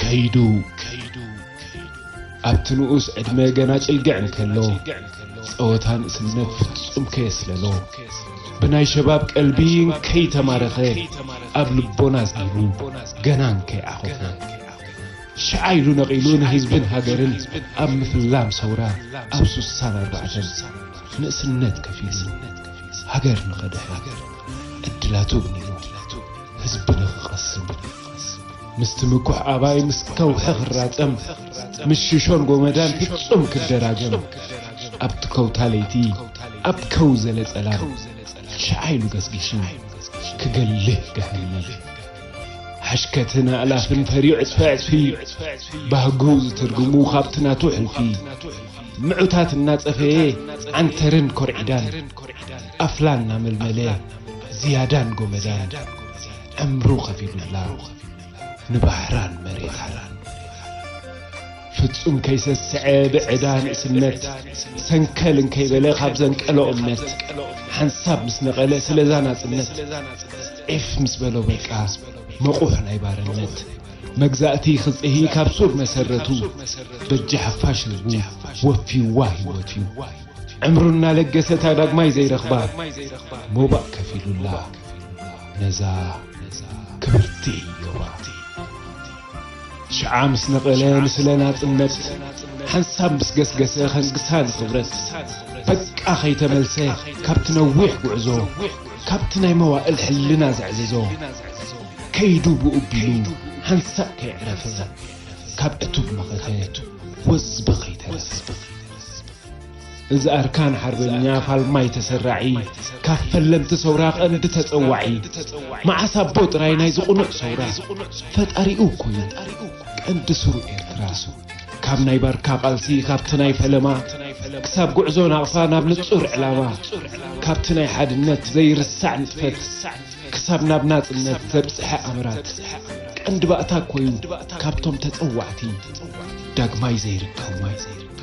ከይዱ ከይዱ ኣብቲ ንኡስ ዕድመ ገና ጭልግዕ እንከሎ ጸወታ ንእስነት ፍጹም ከየስለሎ ብናይ ሸባብ ቀልቢ እንከይተማረኸ ኣብ ልቦና ኣዝኒቡ ገና እንከይዓኾፈ ሽዓ ኢሉ ነቒሉ ንህዝብን ሃገርን ኣብ ምፍላም ሰውራ ኣብ ሱሳን ኣርባዕተን ንእስነት ከፊሉ ሃገር ንኸድሕን ዕድላቱ ኣግኒኑ ህዝቢ ንኽቐስን ምስቲ ምኩሕ ኣባይ ምስ ከውሒ ክራጸም፣ ምስ ሽሾን ጎመዳን ፍጹም ክደራገም፣ ኣብቲ ከውታ ለይቲ ኣብ ከው ዘለ ጸላም፣ ሽዓ ኢሉ ገስጊሱ ክገልህ ገሃነም። ሓሽከትን ኣእላፍን ፈርዩ ዕጽፊ ዕጽፊ፣ ባህጉ ዝትርጉሙ ካብቲ ናቱ ሕልፊ፣ ምዑታት እናጸፈየ ዓንተርን ኮርዒዳን፣ ኣፍላ እናመልመለ ዝያዳን ጎመዳን፣ ዕምሩ ከፊሉላ ንባሕራን መሬታን ፍጹም ከይሰስዐ ብዕዳ ንእስነት ሰንከል እንከይበለ ካብ ዘንቀሎ እምነት ሓንሳብ ምስ ነቐለ ስለዛ ናጽነት ዒፍ ምስ በሎ በቃ መቑሕ ናይ ባርነት መግዛእቲ ክጽሂ ካብ ሱር መሰረቱ በጃ ሓፋሽ ህዝቡ ወፊዋ ህይወቱ ዕምሩ እናለገሰታ ዳግማይ ዘይረኽባ ሞባእ ከፊሉላ ነዛ ክብርቲ ዶባ ሽዓ ምስ ነቐለ ንስለ ናጽነት ሓንሳብ ምስ ገስገሰ ከንግሳ ንኽብረት በቃ ከይተመልሰ ካብቲ ነዊሕ ጉዕዞ ካብቲ ናይ መዋእል ሕልና ዘዕዝዞ ከይዱ ብኡ ቢሉ ሓንሳእ ከየዕረፈ ካብ ዕቱብ መኸተ ወዝቢ ከይተረፈ እዚ ኣርካን ሓርበኛ ፋልማይ ተሰራዒ ካብ ፈለምቲ ሰውራ ቀንዲ ተጸዋዒ መዓስ ኣቦ ጥራይ ናይዚ ቁኑዕ ሰውራ ፈጣሪኡ ኮይኑ ቀንዲ ሱሩ ኤርትራ ካብ ናይ ባርካ ቃልሲ ካብቲ ናይ ፈለማ ክሳብ ጉዕዞ ናቕፋ ናብ ንጹር ዕላማ ካብቲ ናይ ሓድነት ዘይርሳዕ ንጥፈት ክሳብ ናብ ናጽነት ዘብጽሐ ኣምራት ቀንዲ ባእታ ኮዩ ካብቶም ተጸዋዕቲ ዳግማይ ዘይርከቡ።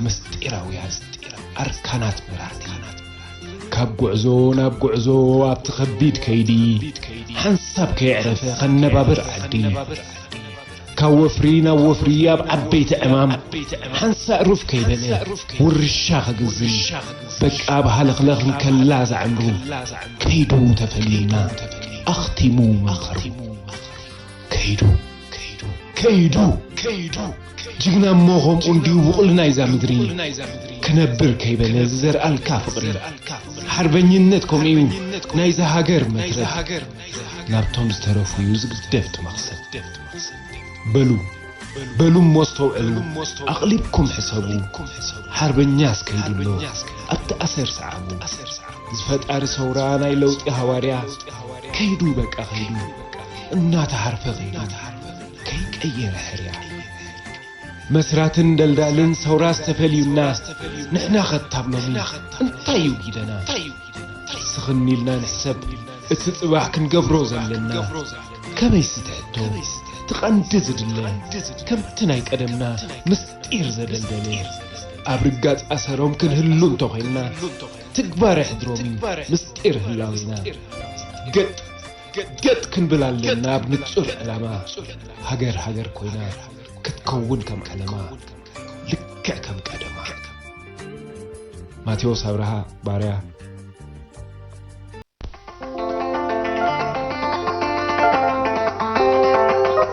ምስጢራውያን ኣርካናት መራሕቲ ካብ ጉዕዞ ናብ ጉዕዞ ኣብቲ ከቢድ ከይዲ ሓንሳብ ከየዕረፈ ከነባብር ዓዲ ካብ ወፍሪ ናብ ወፍሪ ኣብ ዓበይቲ ዕማም ሓንሳእ ሩፍ ከይበለ ውርሻ ከግዝም በቃ ብሃለኽለኽ እንከላ ዝዓምሩ ከይዱ ተፈሊና ኣኽቲሙ መኸሩ ከይዱ ከይዱ ከይዱ ጅግና እሞ ከምኡ እንድዩ ብቑል ናይዛ ምድሪ ክነብር ከይበለ ዝዘርኣልካ ፍቕሪ ሓርበኝነት ከምኡ እዩ ናይዛ ሃገር መትረፍ ናብቶም ዝተረፉ እዩ ዝግደፍ ትመኽሰብ በሉ በሉ እሞ ኣስተውዕሉ ኣቕሊብኩም ሕሰቡ ሓርበኛስ ከይዱሎ ኣብቲ ኣሰር ሰዓቡ ዝፈጣሪ ሰውራ ናይ ለውጢ ሃዋርያ ከይዱ በቃ ከይዱ እናተሃርፈ ኸይዱ ከይቀየረ ሕርያ መስራትን ደልዳልን ሰውራ ዝተፈልዩና ንሕና ኸታብ ሎሚ እንታይ እዩ ጊደና ስኽን ኢልና ንሕሰብ እቲ ጽባሕ ክንገብሮ ዘለና ከመይ ስትሕቶ ትቐንዲ ዝድለ ከምቲ ናይ ቀደምና ምስጢር ዘደልደለ ኣብ ርጋጽ ኣሰሮም ክንህሉ እንተኾይንና ትግባረ ሕድሮም እዩ ምስጢር ህላዊና ገጥ ገጥ ክንብል ኣለና ኣብ ንጹር ዕላማ ሃገር ሃገር ኮይና ክትከውን ከም ዓለማ ልክዕ ከም ቀደማ ማቴዎስ ኣብርሃ ባርያ